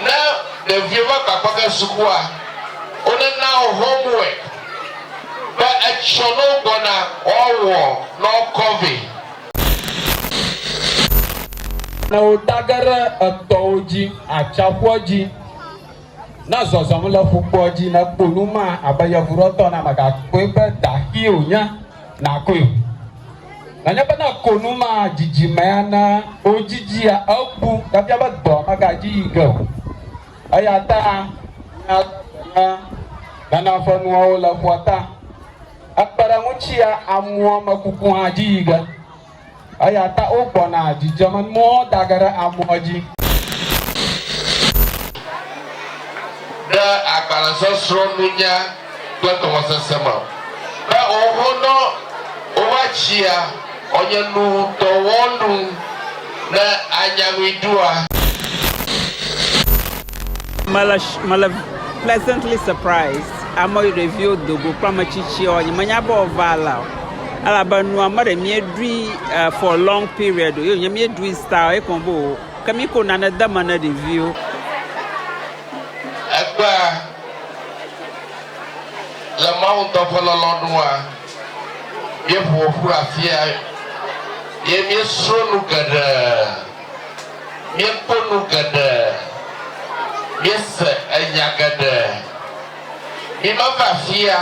Ne ɖevio va gbagba ge sukua, wone na wo homework be etsɔ ne wo gbɔna woawɔ ne wokɔ vɛ. Ne wo ta ge ɖe etɔwo dzi atsaƒua dzi, ne zɔzɔm le ƒukpoa dzi ne kpo nu ma abe yevuɖɔtɔ na megakpɔe be daxi wonye, nakɔe o. Nenye bena konu ma dzidzime ana wodzidzia ebu efia be dɔa megadzi yi ge o. Eya ta míado gbe na nana ƒe nuawo le ƒua ta. Ekpe ɖe eŋu tsia amuɔ me kuku hã dzi yi ge. Eya ta wogbɔna dzidzemenuawo da ge ɖe amuɔ dzi. Ɖe agbalẽsɔsrɔ̃ nunya kple tɔwɔsese me be owonɔ wova tsia ɔnye nu tɔwɔnu ne anya nui ɖua. Mele mele pleasantly surprised ame yi ɖeviwo do go kple ame tsitsiwo nye menya be wova la o elabe nua me ɖe mie ɖui uh, for long period o ye nye mie ɖui style ye kɔn bo ke mi ko nane de me ne ɖeviwo. Egbea. Le Mawu ŋutɔ ƒe lɔlɔ̃ nua, míeƒo ƒu afia ye míesrɔ̃ nu geɖe, míekpɔ nu geɖe, míese nya geɖe. Mímeva afia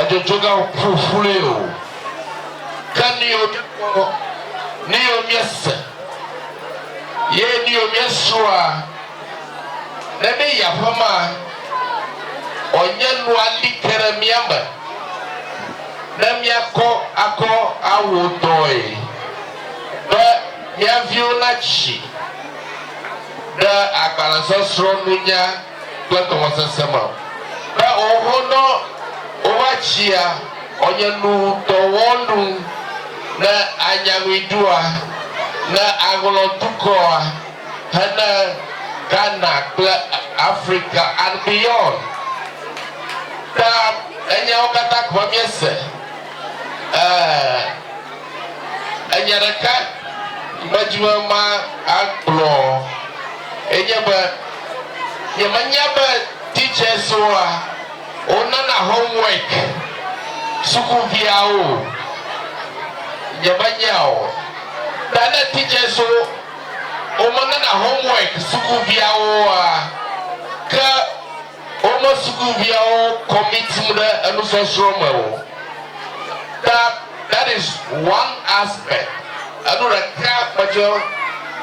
edzodzoge ƒo ƒuƒlui o, ke nu yiwo míekpɔ, nu yiwo míese, ye nu yiwo míesrɔ̃a, Ne ɖe yi aƒe maa, ɔ nye nua li ke ɖe mía me ne mía kɔ akɔ awɔ dɔe be mía viwo na tsi ɖe agbalẽ sɔsrɔ̃ nunya kple gɔmesese me o. Be ɔ ho nɔ wo va tsia ɔ nye nu dɔ wɔ nu ne a nya nui ɖoa, ne a ŋlɔ dukɔa. hene Ghana kple Africa and beyond. Ta enyawo katã gɔme míese. E, enya ɖeka medi be magblɔ enye be nyemenya be teacherswoa wonana homework sukuviawo o. Nyemenya o. Ta ne teacherswo Womenana homework sukuviawo oa? Ke wome sukuviawo commitim ɖe enusɔsrɔ̃ me o. Ta that is one aspect. Enu ɖeka metsɔ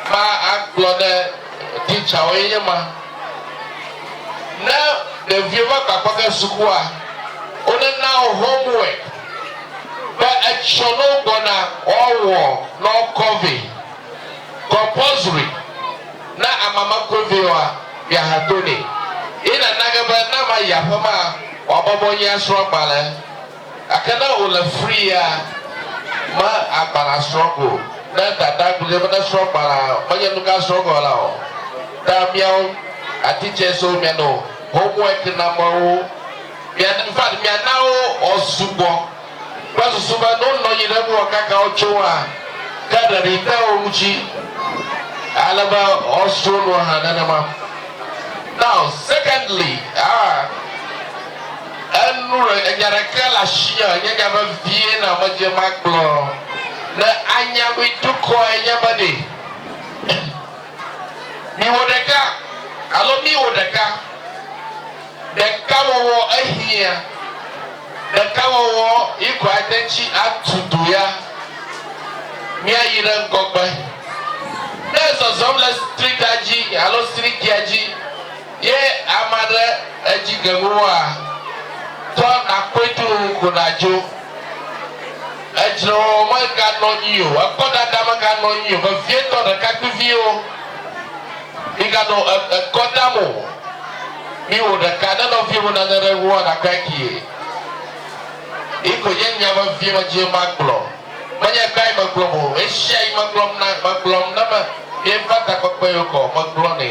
va agblɔ ne teacherwo ye nye ma. Ne ɖeviwo va gba kpɔ ge sukua, wonena wo homework be etsɔ ne wogbɔna woawɔ ne wokɔ vɛ. compulsory na amama kuvioa miahatone ye na nage be na ma yi aƒema wa bɔbɔ nyi asrɔ agbale ake na o le free ya ma agbale asrɔ go ne dada gudze be ne srɔ gbala menye nuka asrɔ go la o ta miao atitse so mia no homework na mawo mia in fact mia na o o sugbɔ Kpɔ susu be ne wonɔ anyi ɖe eŋu kaka wotso ŋua, ke ɖeɖi te wo ŋuti ale be woasro nu hã nenema. Now, secondly, ah, enu ɖe, enya ɖeke le asinye, nye nya vevie na medze magblɔ, ne anya mi dukɔe nye be ɖe miwɔ ɖeka alo miwɔ ɖeka. Ɖekawɔwɔ ehiã. Ɖekawɔwɔ yi ko ate ŋutsi atu du ya. Míayi ɖe ŋgɔgbe. Ne ezɔzɔm le streetia dzi alo streetia dzi ye ame aɖe edzi gem woa, tɔ nàkpɔe dũu ko nàdzo. Edzrewɔwɔ meganɔ anyi o. Ekɔdada meganɔ anyi o. Vevietɔ ɖekakpuiviwo, miganɔ ekɔ dam o. Mi wò ɖeka ne nɔviye mu nane ɖe ŋuwòa nakpɔe kee. Yi koe nye nya vevie medie magblɔ. Menye kpae megblɔ o, ɣeshiaɣi megblɔm na megblɔm ne me mieva takpekpe yio kɔ megblɔnɛ.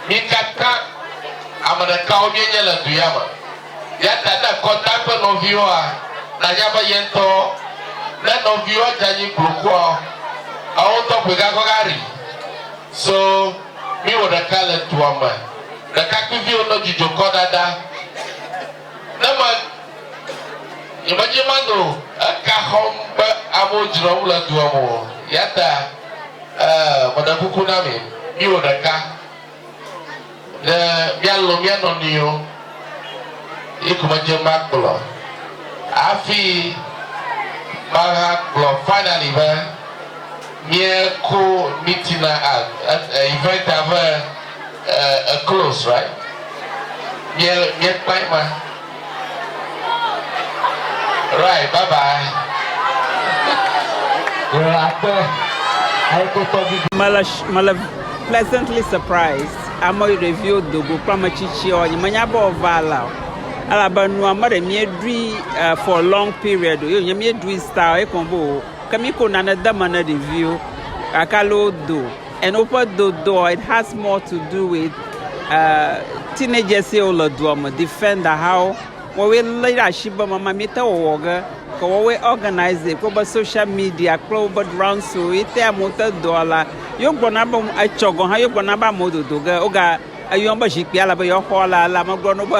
Mi katã ame ɖekawo mienye le du ya me. Yata ne ekɔ ta kple nɔviwoa nanya be ye ŋutɔ ne nɔviwoa dze anyi gblokua ewotɔ koe gakɔ gari so. Míewɔ ɖeka le dua me. Ɖekakpuiviwo nɔ dzidzɔ kɔ ɖaɖa. Ne me, nyemedze manɔ eka xɔm be amewo dzrɔm le dua me o. Yata, ee, meɖe kuku na mi, míwɔ ɖeka, ne míalɔ̃ mía nɔnɔewo. Ye ko medze magblɔ hafi magagblɔ finally be. Míe ko mí tina a event a ve a close right míe míe kpae ma right bye bye. Mele mele pleasantly surprised ame ɖeviwo do go kple ame tsitsiawo nye menya be wova la o elabe nua meɖe míeɖui for long period o ye wonye míeɖui style ye ko be o. Ke mi ko nane de me ne ɖeviwo gake ale wodo and woƒe dodoa it has more to do with uh, teenagers ye wole doa me defender hawo wɔwoe lé ɖe asi be mama mi te wɔwɔ ge ke wɔwoe organize kple woƒe social media kple woƒe rounds wo ye te amewo te doa la yewo gblɔna be etsɔ gɔn hã yewo gblɔna be amewo dodo ge woga eyɔn be zikpui ale be yewoxɔ la la megblɔ no be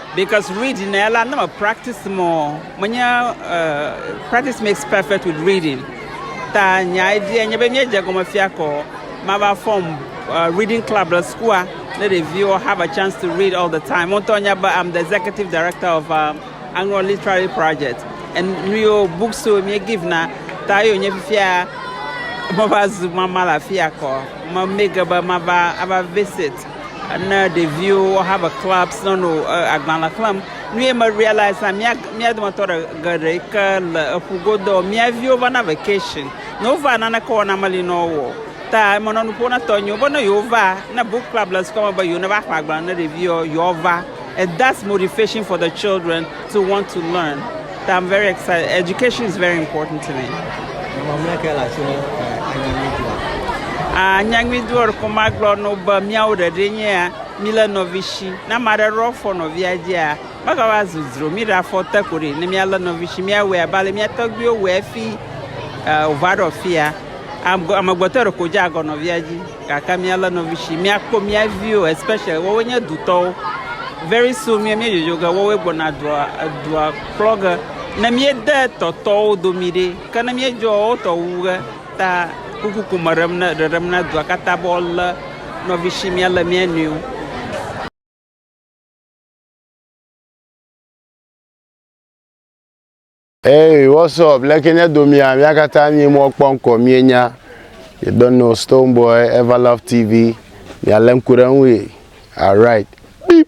Because read na ya la ne me practice mɔ menye uh, practice makes perfect with reading ta nya idea nye be míedze gɔme fia kɔ mava form uh, reading club le sukua ne ɖeviwo have a chance to read all the time montɔ nya be I'm the executive director of uh, Anglo Literary Project and nuyo books so mie give na ta yo nye fifia mava zu mama la fia kɔ me mege be mava ava visit ne ɖeviwo wo have a club no no agbalẽ xlẽm nu ye me realize na mía mía dometɔ geɖe yi ke le eƒu godo mía viwo vana vacation ne wova naneke wɔna meli na wo ta emenɔ nuƒo na tɔnyiwo be ne yewo ne book club le sukua me be yewo ne va xlẽ agbalẽ ne ɖeviwo yewoava and that's motivation for the children. to want to learn that I'm very excited. Education is very important to me. Anyaŋuidua ko magblɔ no be míawo ɖeɖe nye ya mi le nɔvi si na ma ɖe rɔ fɔ nɔvia dzia mega va zu dzro mi ɖa fɔ te ko ɖe ne mia le nɔvi si mia wɛ abale mia tɔgbiwo wɛ fi o va ɖɔ fia amegbetɔ ɖe ko dza gɔ nɔvia dzi. Gake míalé nɔvitsi, míakpɔ mía viwo especially woawoe nye dutɔwo. Very soon mía míedzodzo ge woawoe gbɔna dua edua kplɔ ge. Ne míede tɔtɔwo domi ɖi ke ne míedzɔa wotɔ wu ge ta kuku ko me ɖem ne ɖeɖem na dua katã be woalé nɔvitsi míalé mía nɔewo. Hey, what's up? Leke nye domia? Mia katã mie mɔ kpɔ ŋkɔ mie nya. You don't know Stone Boy, Everlove TV. Mia le ŋku ɖe ŋu ye. Alright. Beep.